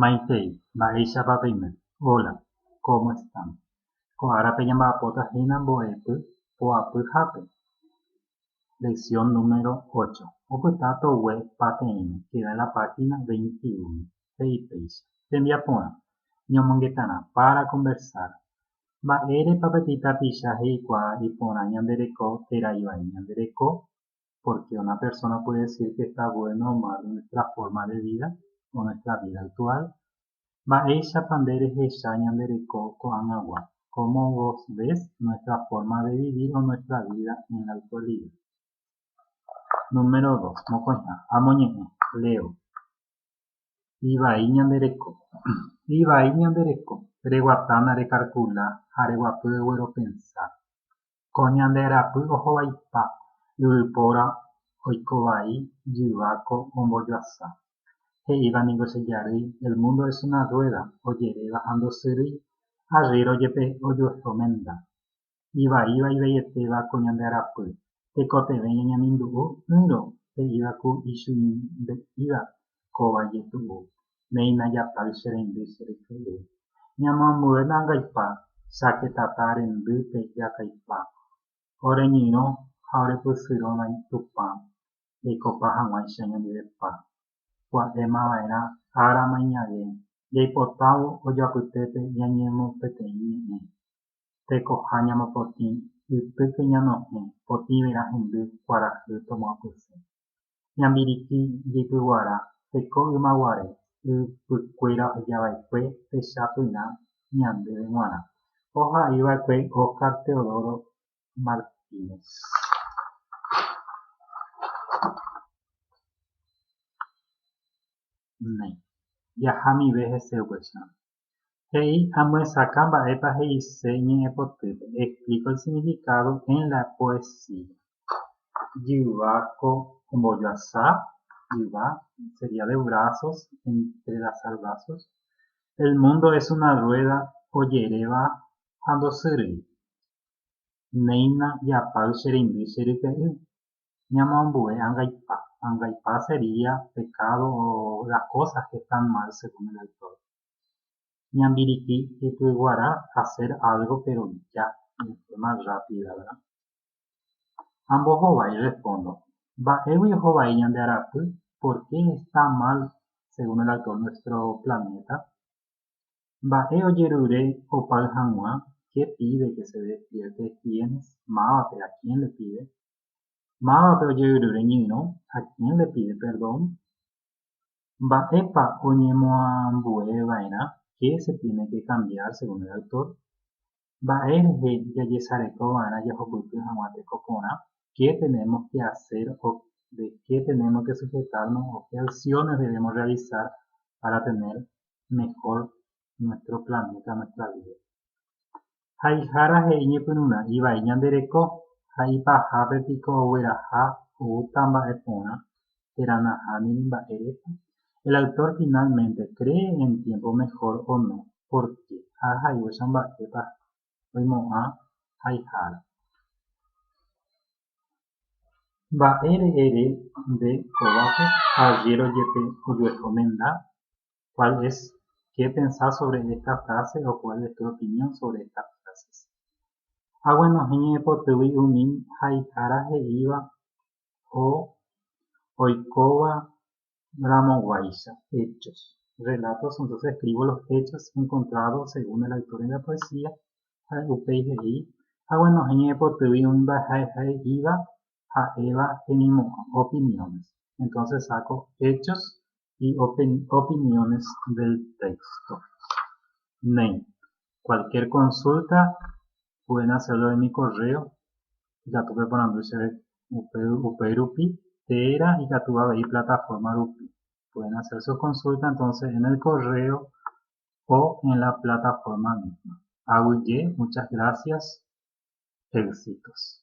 Maitei, mba'éichapa peime? Hola, ¿cómo están? Ko árape ñamba'apóta hína mbo'epy poapyhápe. Lección número ocho. Opyta togue pateĩme, queda en la página veintiuno, he'i péicha. Tembiaporã, ñomongetarã, para conversar. Mba'érepa peteĩ tapicha he'ikuaa iporã ñande reko térã ivai ñande reko? porque una persona puede decir que está bueno o malo nuestra forma de vida o nuestra vida actual mba'éichapa nde rehecha ñande reko ko'ag̃agua cómo vos ves nuestra forma de vivir o nuestra vida en la actualidad Número dos, mokõiha, amoñe'ẽ, leo, ivai ñande reko, ivai ñande reko, reguatána rekalkula ha reguapy ogueropensa, Ko ñande rapy ohovaipa yvypóra oiko vai jyva ko ombojoasa. He'íva niko che jarýi el mundo es una rueda ojeréva ha ndosyrýi arríro jepe ojuehe omenda. Ivaíva ivaieteva ko ñande rapy, tekotevẽ ñañemindu'u ỹrõ he'íva ku ichugimbe'íva kóva jetu'u, néi najapái che rendy che ryke'y. Ñamoambue nangaipa sáke tata rendýpe jakaipa, oreñyrõ ha orepysyrõ vai Tupã jaikopa hag̃uáicha ñanderepa. Pu'aéma va'erã ára mainyave jaipotávo ojoapytépe ñañemopeteĩ ñe'ẽ, tekoha ñamopotĩ ytýpe ñanohẽ potĩverã hendy kuarahy tomoapysẽ. Ñambiriki jeipyguara teiko ymaguare yvykuéra ohejava'ekue techapyrã ñandéve g̃uarã, oha'eiva'ekue Óscar Teodoro Martínez. Jaha amive hese upéicharõ. He'i amyesakã mba'épa he'ise ñe'ẽpotýpe, explico el significado en la poesía. Jyva ko ombojoasa, jyva sería de brazos, entrelazar brazos. El mundo es una rueda ojeréva ha ndosýrei. Néina japáy che reindy che ryke'y. ñamoambue angaipa. Angaipa sería pecado o las cosas que están mal según el autor. Ñambiriki ypyguara hacer algo pero ya, de forma rápida, ¿verdad? Ha mbohovái respondo. Mba'égui ohovái ñande arapy, por qué está mal según el autor nuestro planeta? Mba'e ojerure opáy hag̃ua, qué pide que se despierte, quiénes, mávape, a quién le pide, Mávape ojeyru reñyrõ ha kénle pide perdón? Mba'épa oñemoambueva'erã qué se tiene que cambiar según el autor? Mba'e rehe jajesarekova'erã jahupyty hag̃ua teko porã qué tenemos que hacer o de qué tenemos que sujetarnos o qué acciones debemos realizar para tener mejor nuestro planeta, nuestra vida. Haihára he'i ñepyrũrã'i vai ñande reko, ha ipahápe piko ogueraha oúta mba'e porã térã nahániri mba'érepa? El autor finalmente cree en tiempo mejor o no? Por qué? Ha ahayhuecha mba'épa oimo'ã haihára. Mba'ére ere nde kovápe ha ajéro jepe ojueho menda, Kuál es ké pensá sóvre ésta fráse o kuál es tu opinión sóvre estas fráses. Aguenohẽ ñaipotýgui umi haihára he'íva o oikóva ramoguáicha, hechos. Relatos, entonces escribo los hechos encontrados según el autor en la poesía, ha upéi he'i, Aguenohẽ ñaipotýgui umi mba'eha he'íva ha'éva hemimo'ã, opiniones. Entonces saco hechos y opiniones del texto. Néi, cualquier consulta pueden hacerlo en mi correo, ikatu peporandu chéve upéi rupi, térã ikatu avei plataforma rupi. Pueden hacer su consulta entonces en el correo o en la plataforma misma. Aguyje, muchas gracias, éxitos.